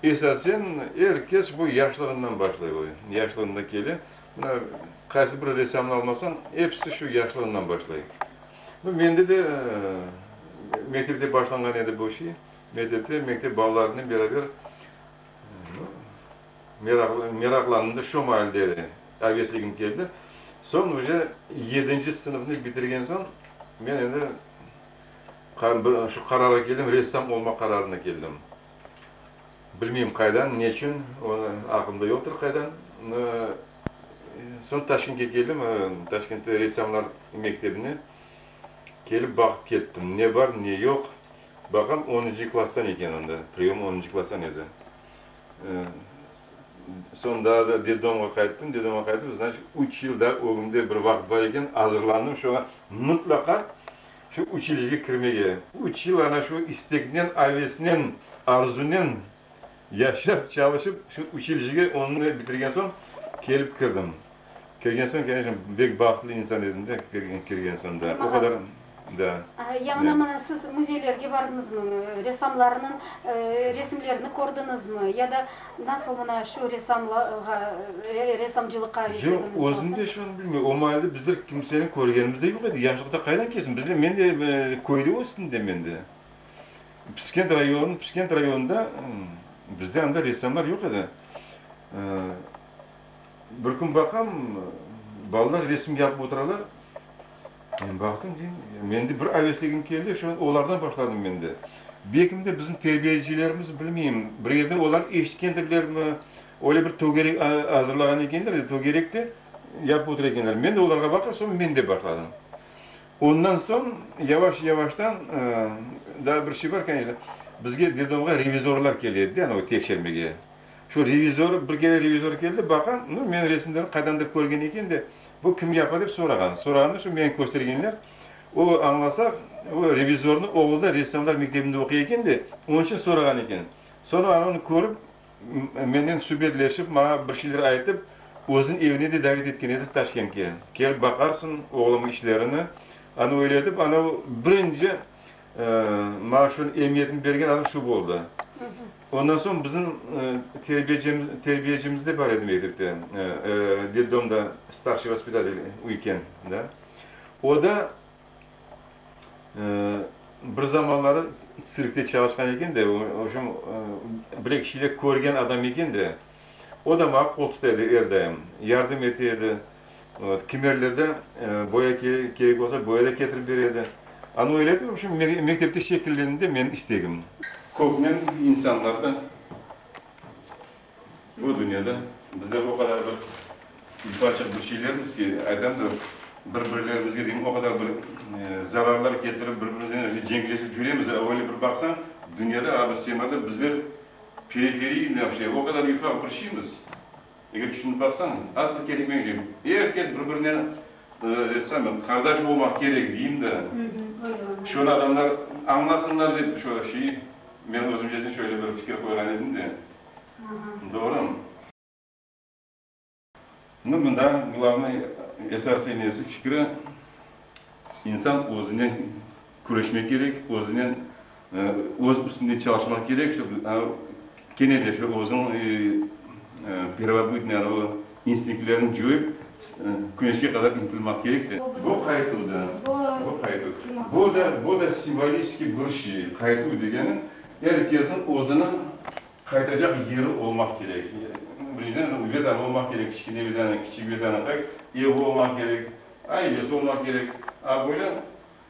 Esasen, er kes bu yaşlığından başlay oy. Yaşlığında kele. Mına, qaysı bir ressamnı almasañ, episi şu yaşlığından başlay. Bu mende de mektepte başlanğan edi bu şey. Mektepte, mektep balalarınen beraber Meraqlandım-da, şo maalde de avesligim keldi. Soñ üce yedinci sınıfnı bitirgen soñ, men endi şu qarara keldim, ressam olmaq qararına keldim. Bilmeyim, qaydan, neçün, o aqlımda yoqtır, qaydan. Soñ Taşkentke keldim, Taşkentte ressamlar mektebine kelip baqıp kettim, ne bar, ne yoq. Baqam onuncu klasstan eken anda, priyom onuncu klasstan edi. Soñ daa da detdomğa qayttım, detdomğa qaytıp, znaçit, üç yıl daa ögümde bir vaqıt bar eken, azırlandım şoña, mıtlaqa şu uçilişege kirmege. Üç yıl ana şu isteknen, avesnen, arzunen Yaşap, çalışıp, şu uçilişege onunla bitirgen soñ, kelip kirdim. Kirgen soñ, конечно, bek bahtlı insan edim de, kirgen soñ da. O qadar, da. Ya mına, mına siz müzeylerge bardınızmı? Ressamlarnıñ resimlerini kördiñizmi? Ya da nasıl mına şu ressamlığa, ressamcılıqqa vesiq oldınız? Yoq, özüm de şunı bilmeyim. O maalde bizler kimseni körgenimiz de yoq edi. Yaşlıqta qaydan kelsin? Bizde, men de köyde östüm de, men de. Piskent rayon, Piskent rayonında bizde anda ressamlar yoq edi. Bir kün baqam, balalar resim yapıp oturalar. Men baqtım, deyim, menim de bir avesligim keldi, şo olardan başladım men de. Belkim de bizim terbiyecilerimiz, bilmeyim, bir yerden olar eşitkendirlermi, öyle bir tögerek azırlağan ekenler, tögerek de yapıp otura ekenler. Men de olarğa baqıp, soñ men de başladım. Ondan soñ yavaş-yavaştan daa bir şey bar, конечно, bizge dedomğa revizorlar kele edi de, ana o tekşermege. Şu revizor, bir kere revizor keldi, baqan, nu, meni resimlerni qaydandır körgen eken de, bu kim yapa dep sorağan. Sorağanda şu meni köstergenler, o, añlasaq, o revizornıñ oğlu da ressamlar mektebinde oquy eken de, onıñ içün sorağan eken. Soñra ananı körip, Menen subetleşip, maña bir şeyler aytıp, özüniñ evine de davet etken edi Taşkentke. Kelip baqarsıñ oğlumnıñ işlerini. Anı öyle etip, ana o birinci maña şunıñ emiyetini bergen adam şu boldı. Ondan soñ bizim terbiyecimiz de bar edi mektepte, detdomda starşiy vaspitatel eken da. O da Bir zamanları tsirkte çalışqan eken de, vobşem, bile kişiler körgen adam eken de, o da maña qol tuta edi er daim, yardım ete edi. Kimerlerde boya kerek olsa, boya da ketirip bere edi. Anı öyle edi, vobşem, mektepte şekillendi de menim istegim. Köpnen insanlar da. Bu dünyada bizler o qadar bir yupaçıq bir şeylermiz ki, aytam da, bir-birlerimizge degim o qadar bir zararlar ketirip, bir-birimizden öyle cenkleşip cüremiz. A öyle bir baqsañ, dünyada, a bu semada bizler periferiyniy vapshe, o qadar yufaq bir şeymiz. Eger tüşünip baqsañ, aslı kerekmeyen şey. Er kes bir-birinen eet samıy, qardaş olmaq kerek deyim da, şunı adamlar añlasınlar dep, şu şeyi. Men özümcesin şöyle bir fikir qoyğan edim de, doğrumı? Nı, mında glavnıy, esasiy nesi, fikri, insan özünen küreşmek kerek, özünen, öz üstünde çalışmaq kerek, şob, kene de, şu özüñ, pervobıtnıy, anavi, İnsliklerini cüvip, küneşke qadar intilmaq kerek de. Bu qaytuv da, bu qaytuv. Bu da, bu da simvoliçki bir şey. Qaytuv degeni, er kesniñ özüniñ qaytacaq yeri olmaq kerek. Birinciden, bu vedan olmaq kerek, kiçkene vedana, kiçik vedana, tak, evi olmaq kerek, ailesi olmaq kerek. A böyle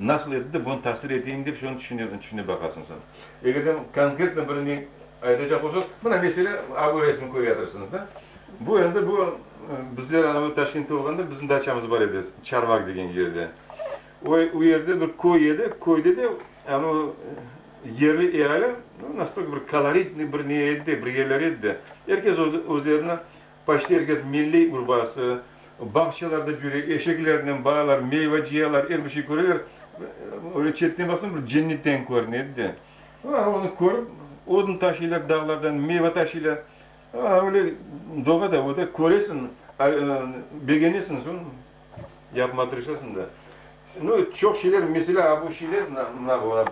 Nasıl etip de bunı tasvir eteyim dep şunı tüşüne baqasıñ sen. Eger de konkretno birini aytacaq olsaq, mına, mesele, bu resimni körüyatırsıñız da. Bu endi, bu, bizler anavi Taşkentte olğanda bizim daçamız bar edi, Çarvak degen yerde. O, o yerde bir köy edi, köyde de anavi yerli eali, nastолько bir koloritniy bir ne edi de, bir yerler edi de, er kes özlerini Paşti erkek milliy urbası, bağçalarda cüre, eşeklernen bağlar, meyve cıyalar, er bir şey köreler. Öyle çetten baqsañ bir cennetten körünedi de. Aa, onı körip, odun taşıylar dağlardan, meyve taşıylar. Aa, öyle doğa da, o da köresin, begenesin, soñ yapma tırışasıñ da. Nu, çoq şeyler, mesela, a bu şeyler, mına bu,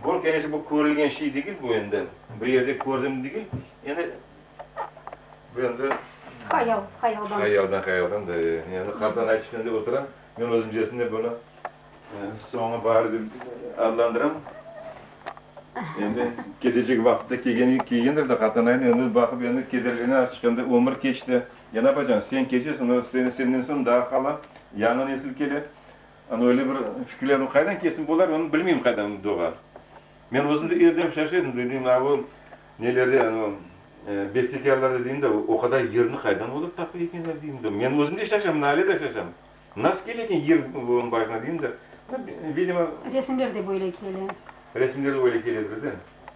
bu, keneşe, bu körülgen şey degil bu endi, bir yerde kördim degil, endi Bu endi hayal, hayaldan. Hayaldan, hayaldan da, e. Yani qartlar aytışkanda otura, men özümcesine bunı soñu bar dep adlandıram. Endi ketecek vaqıtta kelgeni kelgendir de, qartanayın endi baqıp, endi kederlerine açışqanda ömür keçti. Ya napacañ, sen keçesin, o seni senden soñ daa qala, yañı nesil kele. Ana öyle bir fikirler qaydan kelsin bular, onı bilmeyim qaydan doğar. Men özüm de er dem şaş edim, dedim, a bu nelerde, ana, bestekârlarda dedim de, o qadar yerni qaydan olıp tapa ekenler, dedim de. Men özüm de şaşam, mına ale de şaşam. Nasıl kele eken yer bunıñ başına, dedim de. Vidimo. Resimlerde böyle kele. Resimlerde böyle kele, dedi.